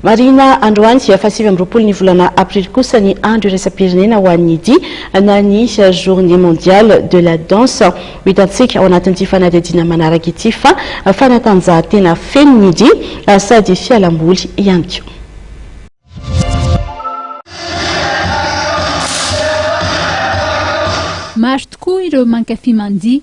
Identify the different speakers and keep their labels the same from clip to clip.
Speaker 1: Marihina androany dia fahasivy amby roapolo ny volana aprily kosa ny andro iraisam-pirenena ho an'ny dihy na ny Journée mondiale de la danse. Ho hitantsika ao anatin'ity fanadihadiana manaraka ity fa fanatanjahantena feno ny dihy sady fialamboly ihany koa.
Speaker 2: Maro tokoa ireo mankafy mandihy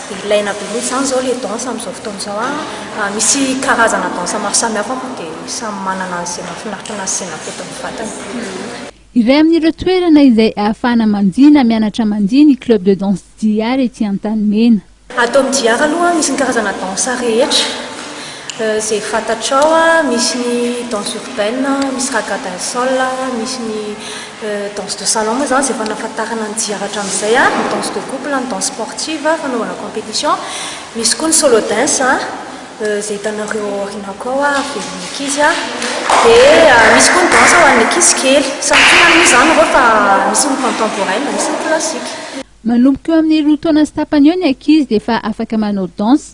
Speaker 3: Ilaina be mihitsy izany izao ilay danse amin'izao fotoana izao an! Misy karazana danse maro samihafa moa dia samy manana izay mahafinaritra anazy sy izay mampety ny vatany. Iray
Speaker 2: amin'ireo toerana izay ahafahana mandihy na mianatra mandihy ny Club de Danse JR ety Antanimena. Ato amin'ny JR
Speaker 3: aloha misy ny karazana danse rehetra izay fantatrao, misy ny danse urbaine, misy raga dancehall, misy ny. Danse de salon moa izany izay efa nahafantarana ny jiaby hatramin'izay, ny danse de couple, ny danse sportive fanaovana competition, misy koa ny solo dance izay hitanareo ao aoriana koa ao velon'ny ankizy, dia misy koa ny danse ho an'ny ankizy kely. Samy tiana aloha izany ireo fa misy ny contemporaine, misy ny classique. Manomboka eo
Speaker 2: amin'ny roa taona sy tapany eo ny ankizy dia efa afaka manao danse.